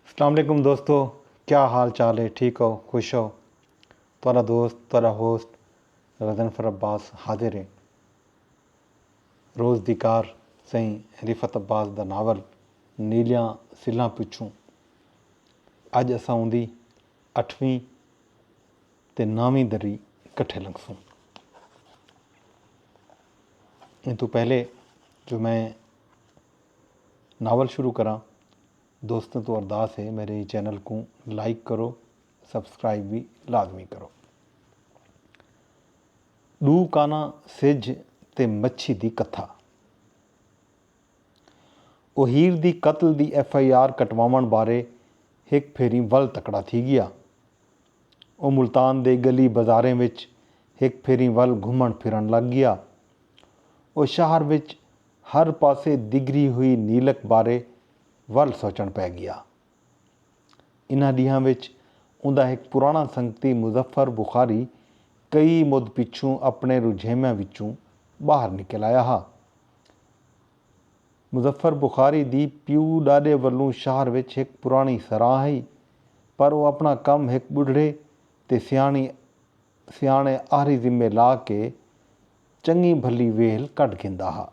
السلام علیکم دوستو کیا حال چال ہے ٹھیک ہو خوش ہو تھوڑا دوست تھوڑا ہوسٹ غزنفر عباس حاضر ہے روز دی کار سائیں رفت عباس دا ناول نیلیاں سلاں پچھوں اج اساں اوندی اٹھویں تے نویں دری کٹھے لنگسوں ان تو پہلے جو میں ناول شروع کراں دوستاں توں ارداس ہے میرے چینل کوں لائک کرو سبسکرائب وی لازمی کرو۔ ݙو کاناں سجھ تے مچھی دی کتھا۔ او ہیر دی قتل دی ایف آئی آر کٹواوݨ بارے ہک پھیریں ول تکڑا تھی ڳیا۔ او ملتان دے ڳلی بازاریں وچ ہک پھیریں ول گھمݨ پھرݨ لڳ ڳیا۔ او شہر وچ ہر پاسے دگھری ہوئی نیلک بارے ول سوچݨ پئے ڳیا۔ انہاں ݙینہاں وچ اوندا ہک پراݨا سنگتی مظفر بخاری کئی مدھ پچھوں اپݨے رجھیویاں وچوں ٻاہر نکل آیا ہا۔ مظفر بخاری دی پیو ݙاݙے ولوں شہر وچ ہک پراݨی سراں ہئی پر او اپݨا کم ہک ٻڈھڑے تے سیاݨی سیاݨے آہری ذمے لا کے چنگی بھلی ویلھ کڈھ گھندا ہا۔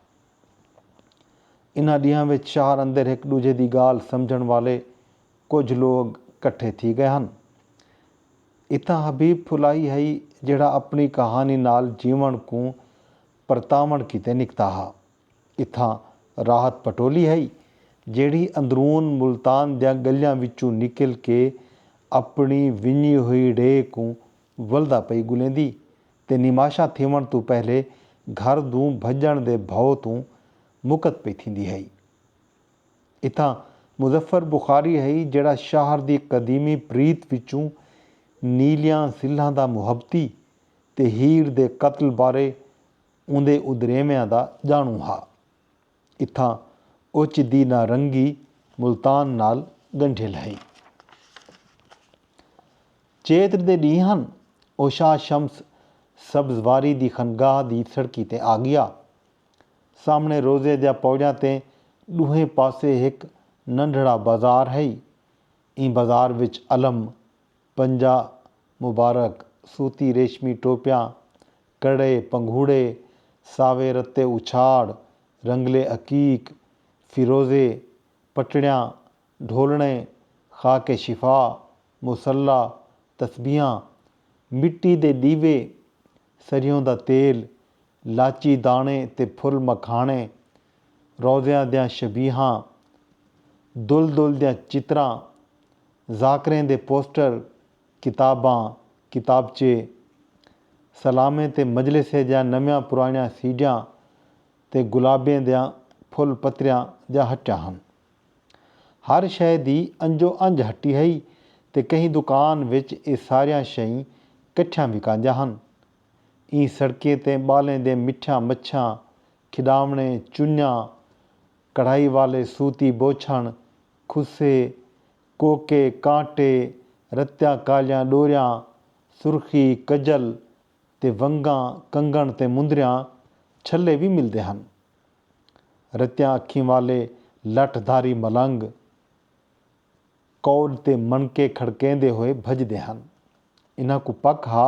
انہاں ڈینہاں وچ شہر اندر ہک ڈوجھے دی گالھ سمجھن والے کجھ لوگ کٹھے تھی گئے ہن۔ اتھاں حبیب پھلائی ہئی جیڑھا اپنی کہانی نال جیونڑ کوں پرتاونڑ کیتے نکتا ہا۔ اتھاں راحت پٹولی ہئی جیڑھی اندرون ملتان دیاں گلیاں وچوں نکل کے اپنڑی ونجی ہوئی ڑے کوں ولدا پئی گلیندی تے نماشاں تھیوݨ توں پہلے گھر دوں بھڄݨ دے بھئو توں مقت پئی تھیندی ہئی۔ اتھاں مظفر بخاری ہئی جیڑھا شہر دی قدیمی پریت وچوں نیلیاں سلھاں دا محبتی تے ہیر دے قتل بارے اوندے ادریویاں دا ڄاݨوں ہا۔ اتھاں اوچدی نارنگی ملتان نال ڳنڈھیل ہئی۔ چیتر دے ݙینہہ ہن او شاہ شمس سبز واری دی خنگاہ دی سڑکی تے آڳیا۔ سامݨے روضے دیاں پوڑیاں تے ݙوہیں پاسے ہک ننڈھڑا بازار ہئی۔ ایں بازار وچ علم، پنجا مبارک، سوتی ریشمی ٹوپیاں، کڑے، پنگھوڑے، ساوے رتے اچھاڑ، رنگلے عقیق، فیروزے، پٹڑیاں، ڈھولݨے، خاک شفا، مصلی، تسبیحاں، مٹی دے ݙیوے، سریوں دا تیل، لاچی داݨے تے پھل مکھاݨے، روضیاں دیاں شبیہاں، دل دل دیاں چتراں، ذاکریں دے پوسٹر، کتاباں، کتابچے، سلامیں تے مجلسیں دیاں نویاں پراݨیاں سیڈیاں تے گلابیں دیاں پھل پتریاں دیاں ہٹیاں ہن۔ ہر شئے دی انجو انج ہٹی ہئی تے کہیں دکان وچ ایہ ساریاں شئیں کٹھیاں وکاندیاں ہن۔ ایں سڑکیں تے ٻالیں دے مٹھیاں مچھیاں، کھݙاوݨے، چنیاں، کڑھائی والے سوتی بوچھݨ، کھسے، کوکے، کانٹے، رتیاں کالیاں ݙوریاں، سرخی، کجل تے ونگاں، کنگݨ تے مندریاں، چھلے وی ملدے ہن۔ رتیاں اکھیں والے لٹھ دھاری ملنگ کول تے منکے کھڑکیندے ہوئے بھڄدے ہن۔ انہاں کوں پک ہا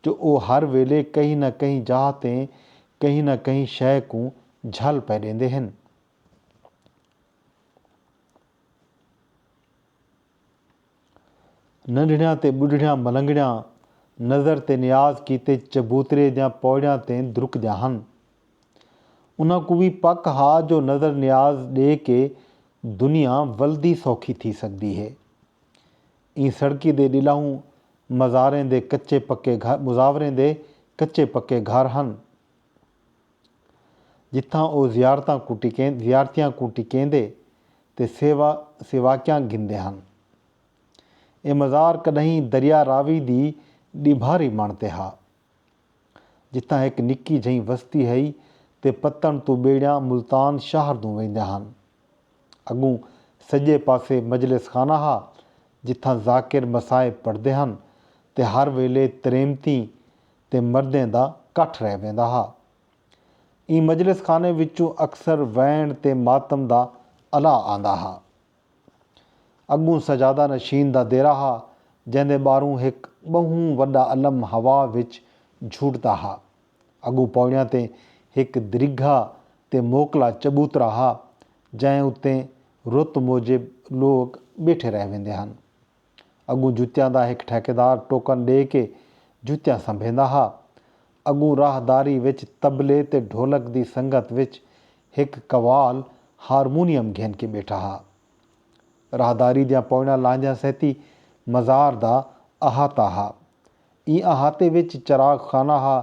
جو او ہر ویلے کہیں نہ کہیں جاہ تے کہیں نہ کہیں شئے کوں جھل پئے ݙیندے ہن۔ ننڈھڑیاں تے ٻڈھڑیاں ملنگڑیاں نظر تے نیاز کیتے چبوترے دیاں پوڑیاں تے درکدیاں ہن۔ انہاں کوں وی پک ہا جو نظر نیاز ݙے کے دنیا ولدی سوکھی تھی سڳدی ہے۔ ایں سڑکی دے ݙلہوں مزاریں دے کچے پکے گھر مزاوریں دے کچے پکے گھر ہن۔ جتھاں او زیارتاں کوں ٹکین زیارتیاں کوں ٹکیندے تے سیوا سیواکیاں گھندے ہن۔ اے مزار کݙاہیں دریا راوی دی ݙیبھاری مݨ تے ہا۔ جتھاں ہک نکی جھئیں وستی ہئی تے پتݨ توں ٻیڑیاں ملتان شہر دوں ویندیاں ہن۔ اڳوں سڄے پاسے مجلس خانہ ہا جتھاں ذاکر مصائب پڑھدے ہن تے ہر ویلے تریمتیں تے مردیں دا کٹھ رہ ویندا ہا۔ ایں مجلس خانے وچوں اکثر وینڑ تے ماتم دا الا آندا ہا۔ اڳوں سجادہ نشین دا دیرہ ہا جیندے ٻاہروں ہک ٻہوں وݙا الم ہوا وچ جھوٹدا ہا۔ اڳوں پوڑیاں تے ہک دریگھا تے موکلا چبوترا ہا جئیں اتے رت موجب لوک ٻیٹھے رہ ویندے ہن۔ اڳوں جتیاں دا ہک ٹھیکیدار ٹوکن ݙے کے جتیاں سنبھیندا ہا۔ اڳوں راہداری وچ طبلے تے ڈھولک دی سنگت وچ ہک قوال ہارمونیم گھن کے ٻیٹھا ہا۔ راہداری دیاں پوئناں لانجھاں سیتی مزار دا احاطہ ہا۔ ایں احاطے وچ چراغ خانہ ہا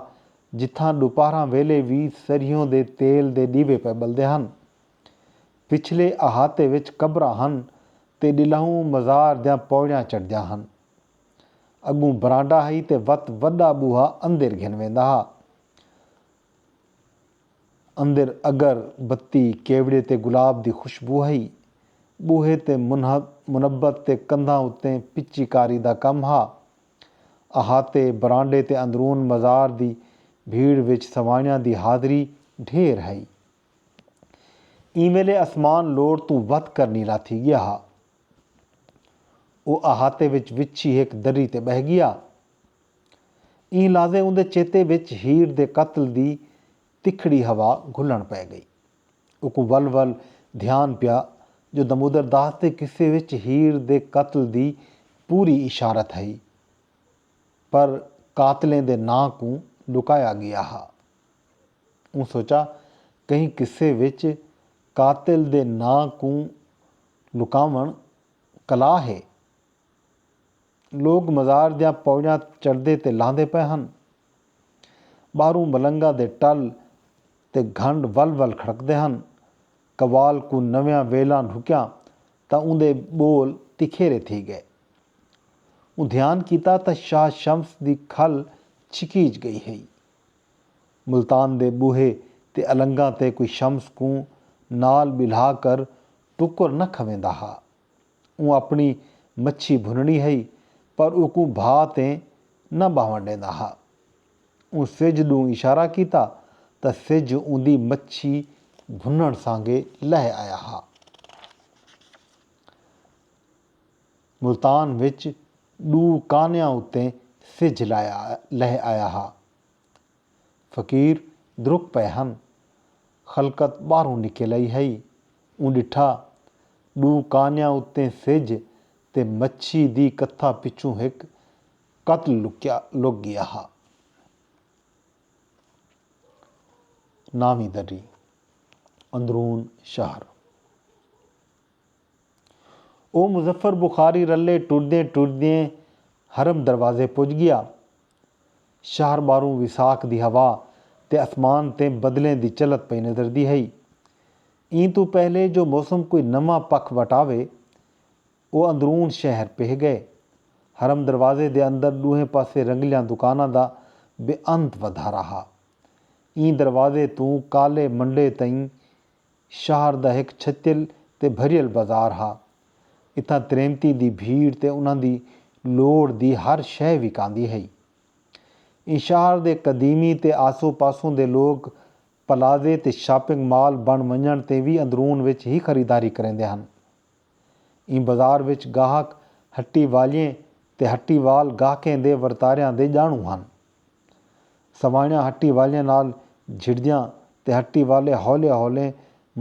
جتھاں ݙوپہراں ویلے وی سریہوں دے تیل دے ݙیوے پئے ٻلدے ہن۔ پچھلے احاطے وچ قبراں ہن تے ݙلہوں مزار دیاں پوڑیاں چڑھدیاں ہن۔ اڳوں برانڈا ہئی تے وت وݙا ٻوہا اندر گھن ویندا ہا۔ اندر اگر بتی، کیوڑے تے گلاب دی خوشبو ہئی۔ ٻوہے تے منبت تے کندھاں اتے پچی کاری دا کم ہا۔ احاطے، برانڈے تے اندرون مزار دی بھیڑ وچ سوانحیاں دی حاضری ڈھیر ہئی۔ ایں ویلے اسمان لوڑ توں ودھ کر نیلا تھی گیا ہا۔ او احاطے وچ وچھی ہک دری تے ٻہہ گیا۔ ایں لحظے اوندے چیتے وچ ہیر دے قتل دی تکھڑی ہوا گھلݨ پئے ڳئی۔ اوکوں ول ول دھیان پیا جو دمودر داس دے قصے وچ ہیر دے قتل دی پوری اشارت ہئی پر قاتلیں دے ناں کوں لکایا ڳیا ہا۔ اوں سوچا کہیں قصے وچ قاتل دے ناں کوں لکاوݨ کلا ہے۔ لوک مزار دیاں پوڑیاں چڑھدے تے لہندے پئے ہن۔ ٻاہروں ملنگاں دے ٹل تے گھنڈ ول ول کھڑکدے ہن۔ قوال کوں نویاں ویلاں ڈھکیاں تاں اوندے ٻول تکھیرے تھی ڳئے۔ اوں دھیان کیتا تاں شاہ شمس دی کھل چھکیج ڳئی ہئی۔ ملتان دے ٻوہے تے النگاں تے کوئی شمس کوں نال ٻلھا کر ٹکر نہ کھویندا ہا۔ اوں اپݨی مچھی بھنݨی ہئی پر اوکوں بھا تے نہ ٻہوݨ ݙیندا ہا۔ اوں سجھ ݙوں اشارہ کیتا تاں سجھ اوندی مچھی بھنݨ سانگے لہہ آیا ہا۔ ملتان وچ ݙو کانیاں اتے سجھ لہہ آیا ہا۔ فقیر درک پئے ہن۔ خلقت ٻاہروں نکل آئی ہئی۔ اوں ݙٹھا، ݙو کانیاں اتے سجھ تے مچھی دی کتھا پچھوں ہک قتل لکیا لک ڳیا ہا۔ ناویں دری، اندرون شہر۔ او مظفر بخاری رلے ٹردیں ٹردیں حرم دروازے پج گیا۔ شہر ٻاہروں وساخ دی ہوا تے اسمان تیں بدلیں دی چلھت پئی نظردی ہئی۔ ایں توں پہلے جو موسم کوئی نواں پکھ وٹاوے، او اندرون شہر پہہ ڳئے۔ حرم دروازے دے اندر ݙوہیں پاسے رنگلیاں دکاناں دا بے انت ودھارا ہا۔ ایں دروازے توں کالے منڈے تئیں شہر دا ہک چھتیل تے بھریل بازار ہا۔ اتھاں تریمتی دی بھیڑ تے انہاں دی لوڑھ دی ہر شے وکاندی ہئی۔ ایں شہر دے قدیمی تے آسو پاسوں دے لوک پلازے تے شاپنگ مال بݨ ونڄݨ تے وی اندرون وچ ہی خریداری کریندے ہن۔ ایں بازار وچ گاہک ہٹی والیئیں تے ہٹی وال گاہکیں دے ورتاریاں دے ڄاݨوں ہن۔ سوانحیاں ہٹی والیاں نال جھڑدیاں تے ہٹی والے ہولے ہولے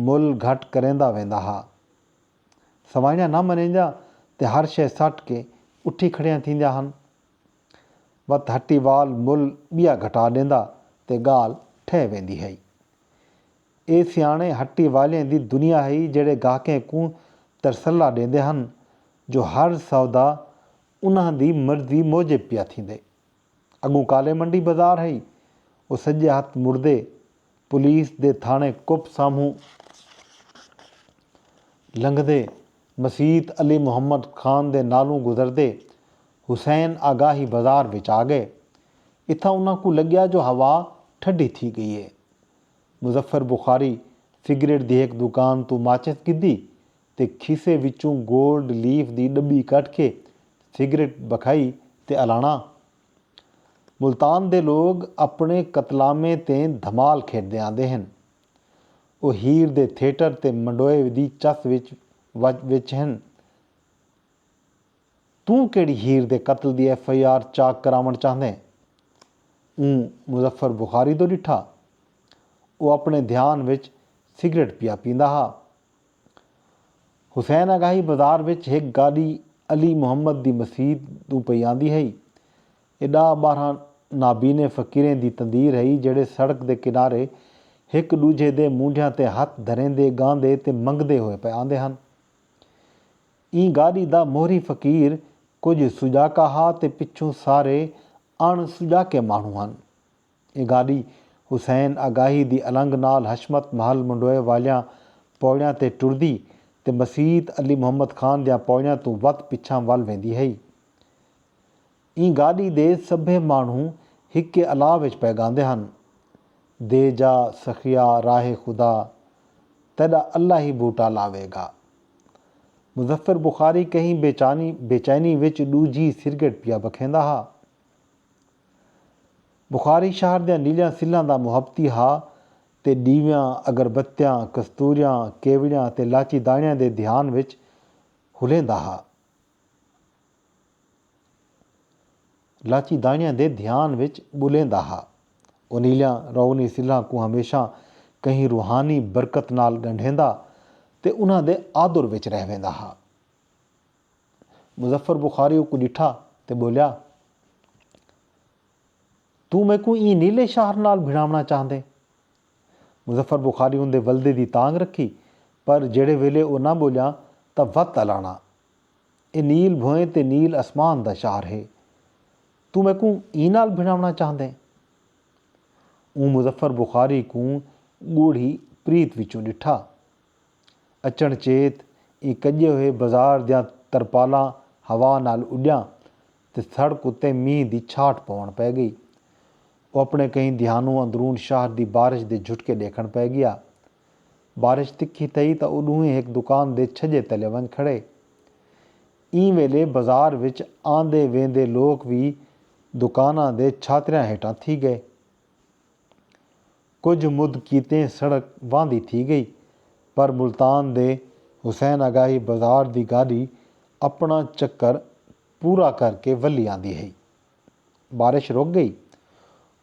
مل گھٹ کریندا ویندا ہا۔ سوانحیاں نہ منیندیاں تے ہر شے سٹ کے اٹھی کھڑیاں تھیندیاں ہن۔ وت ہٹی وال مل ٻیا گھٹا ݙیندا تے ڳالھ ٹھہہ ویندی ہئی۔ اے سیاݨے ہٹی والیاں دی دنیا ہئی جیڑھے گاہکیں کوں ترسلا ݙیندے ہن جو ہر سودا انہاں دی مرضی موجب پیا تھیندے۔ اڳوں کالے منڈی بازار ہئی او سڄے ہتھ مڑدے پولیس دے تھاݨے کپ سامہوں لنگھدے مسیت علی محمد خان دے نالوں گزردے حسین آگاہی بازار وچ آ ڳئے۔ اتھاں انہاں کوں لڳیا جو ہوا ٹھڈی تھی ڳئی ہے۔ مظفر بخاری سگریٹ دی ہک دکان توں ماچس گھدی تے کھیسے وچوں گولڈ لیف دی ڈٻی کڈھ کے سگریٹ بکھائی تے الاݨا۔ ملتان دے لوگ اپݨے قتلامیں تے دھمال کھیڈدے آندے ہن۔ او ہیر دے تھیٹر تے منڈوئے دی چس وچ وچ ہن۔ توں کیڑھی ہیر دے قتل دی ایف آئی آر چاک کراوݨ چاہندیں؟ اوں مظفر بخاری دو ڈٹھا۔ او اپݨے دھیان وچ سگریٹ پیا پیندا ہا۔ حسین اگاہی بازار وچ ہک گاݙی علی محمد دی مسیت ݙوں پئی آندی ہئی اے ݙاہ ٻارہاں نابینے فقیریں دی تندیر ہئی جیڑھے سڑک دے کنارے ہک ݙوجھے دے مونڈھیاں تے ہتھ دھریندے ڳاندے تے منگدے ہوئے پئے آندے ہن۔ ایں گاݙی دا موہری فقیر کجھ سڄاکا ہا تے پچھوں سارے اݨ سڄاکے ماݨوں ہن۔ اے گاݙی حسین آگاہی دی النگ نال حشمت محل منڈوئے والیاں پوڑیاں تے ٹردی تے مسیت علی محمد خان دیاں پوڑیاں توں وت پچھاں ول ویندی ہئی۔ ایں گاݙی دے سبھے ماݨو ہکے الا وچ پئے گاندے ہن۔ دے جا سخیا راہ خدا تیݙا اللہ ہی بوٹا لاوے گا۔ مظفر بخاری کہیں بے چانی بے چینی وچ ݙوجھی سرگٹ پیا بکھیندا ہا۔ بخاری شہر دیاں نیلیاں سلھاں دا محبتی ہا تے ݙیویاں، اگربتیاں، کستوریاں، کیوڑیاں تے لاچی داݨیاں دے دھیان وچ ہلیندا ہا۔ لاچی داݨیاں دے دھیان وچ ٻلیندا ہا۔ او نیلیاں روغنی سلھاں کوں ہمیشہ کہیں روحانی برکت نال ڳنڈھیندا تے انہاں دے آدر وچ رہ ویندا ہا۔ مظفر بخاری اوکوں ݙٹھا تے ٻولیا توں میکوں ایں نیلے شہر نال بھڑاوݨا چاہندیں؟ مظفر بخاری اوندے ولدے دی تانگھ رکھی پر جیڑھے ویلے او نہ ٻولیا تاں وت الاݨا اے نیل بھوئیں تے نیل اسمان دا شہر ہے توں میکوں ایں نال بھڑاوݨا چاہندیں؟ اوں مظفر بخاری کوں ڳوڑھی پریت وچوں ݙٹھا۔ اچݨ چیت ایں کڄے ہوئے بازار دیاں ترپالاں ہوا نال اݙیاں تے سڑک اتے مینھ دی چھاٹ پوݨ پئے ڳئی۔ او اپݨے کہیں دھیانوں اندرون شہر دی بارش دے جھٹکے ݙیکھݨ پئے ڳیا۔ بارش تکھی تھئی تاں او ݙوہیں ہک دکان دے چھڄے تلے ونڄ کھڑے۔ ایں ویلے بازار وچ آندے ویندے لوک وی دکاناں دے چھاتریاں ہیٹھاں تھی ڳئے۔ کجھ مد کیتے سڑک واندھی تھی گئی پر ملتان دے حسین آگاہی بازار دی گاڈی اپنڑاں چکر پورا کر کے ولھی آندی ہئی۔ بارش رک گئی۔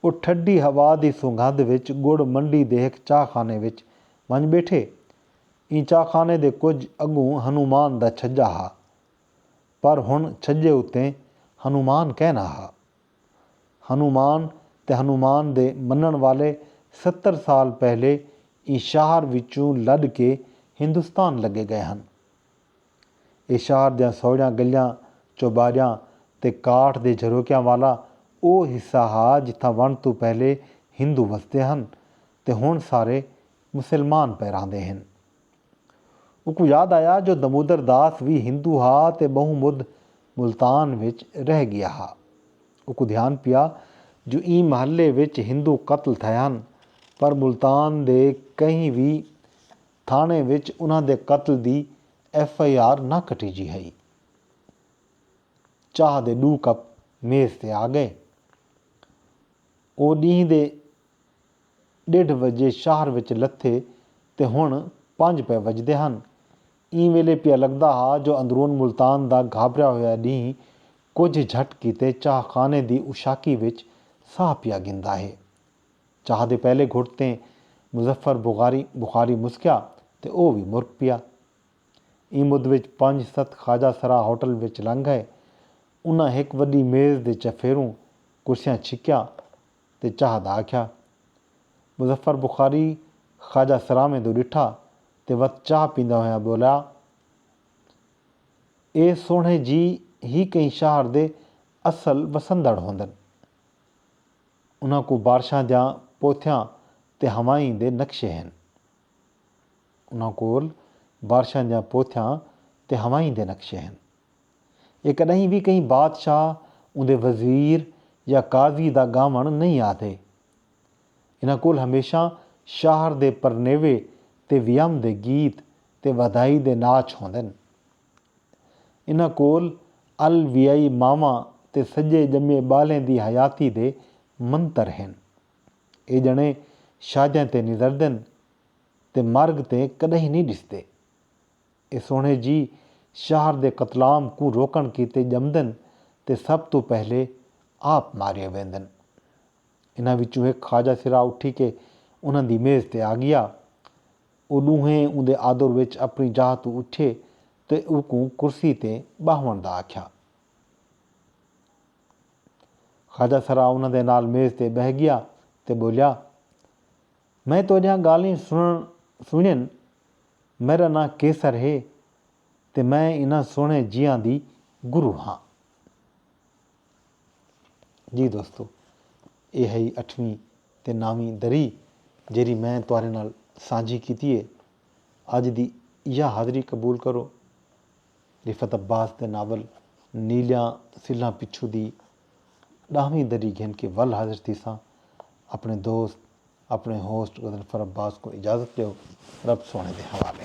او ٹھڈی ہوا دی سنگھند وچ گڑ منڈی دے ہک چاہ خانے وچ ونج بیٹھے۔ ایں چاہ خانے دے کجھ اگوں ہنومان دا چھجا ہا۔ پر ہنڑ چھجے اتے ہنومان کینہہ نہ ہا۔ ہنومان تے ہنومان دے منݨ والے ستر سال پہلے ایں شاہر وچوں لݙ کے ہندوستان لڳے ڳئے ہن۔ اے شاہر دیاں سوہڑیاں ڳلیاں، چوٻاریاں تے کاٹھ دے جھروکیاں والا او حصہ ہا جتھاں ونݙ توں پہلے ہندو وسدے ہن تے ہݨ سارے مسلمان پئے رہندے ہن۔ اوکوں یاد آیا جو دمودر داس وی ہندو ہا تے ٻہوں مدھ ملتان وچ رہ ڳیا ہا۔ اوکوں دھیان پیا جو ایں محلے وچ ہندو قتل تھئے ہن پر ملتان دے کہیں وی تھاݨے وچ انہاں دے قتل دی ایف آئی آر نہ کٹیجی ہئی۔ چاہ دے ݙو کپ میز تے آ ڳئے۔ او ݙینہہ دے ݙیڈھ وجے شہر وچ لتھے تے ہݨ پنج پئے وجدے ہن۔ ایں ویلے پیا لڳدا ہا جو اندرون ملتان دا گھابریا ہویا ݙینہہ کجھ جھٹ کیتے چاہ خانے دی اوشاقی وچ ساہ پیا گھندا ہے۔ چاہ دے پہلے گھٹ تیں مظفر بغاری بخاری مسکیا تے او وی مرک پیا۔ ایں مدھ وچ پنج ست خواجہ سرا ہوٹل وچ لنگھ ڳئے۔ انہاں ہک وݙی میز دے چفیروں کرسیاں چھکیاں۔ تے چاہ دا آکھیا۔ مظفر بخاری خواجہ سراویں دو ڈٹھا تے وت چاہ پیندا ہویاں بولیا۔ اے سوہݨے جی ہی کہیں شہر دے اصل وسندڑ ہوندن۔ انہاں کوں بارشاں دیاں پوتھیاں تے ہوائیں دے نقشے ہن۔ انہاں کول بارشاں دیاں پوتھیاں تے ہوائیں دے نقشے ہن۔ اے کݙاہیں وی کہیں بادشاہ، اوندے وزیر یا قاضی دا ڳاوݨ نئیں آہدے۔ انہاں کول ہمیشاں شاہر دے پرنیوے تے ویام دے گیت تے ودھائی دے ناچ ہوندن۔ انہاں کول ال ویائی ماواں تے سڄے ڄمے ٻالیں دی حیاتی دے منتر ہن۔ اے ڄݨے شادیاں تے نظردن تے مرگ تے کݙاہیں نئیں ݙسدے۔ اے سوہݨے جی شہر دے قتلام کوں روکݨ کیتے ڄمدن تے سب توں پہلے آپ مارئے ویندن۔ انہاں وچوں ہک خواجہ سرا اٹھی کے انہاں دی میز تے آڳیا۔ او ݙونہیں اوندے آدر وچ اپݨی جاہ توں اٹھئے تے اوکوں کرسی تے ٻہوݨ دا آکھیا۔ خواجہ سرا انہاں دے نال میز تے ٻہہ ڳیا تے ٻولیا۔ میں تہاݙیاں ڳالھیں سݨݨ سݨین، میݙا ناں قیصر ہے تے میں انھاں سوہݨے جیہاں دی گرو ہاں۔ جی دوستو! ایہ ہئی اٹھویں تے ناویں دری جیڑھی میں تہاݙے نال سانجھی کیتی ہے۔ اڄ دی ایہا حاضری قبول کرو۔ رفعت عباس دے ناول نیلیاں سلھاں پچھوں دی ݙاہویں دری گھن کے ول حاضر تھیساں اپݨے دوست اپݨے ہوسٹ غضنفر عباس کوں اجازت ݙیو رب سوہݨے دے حوالے۔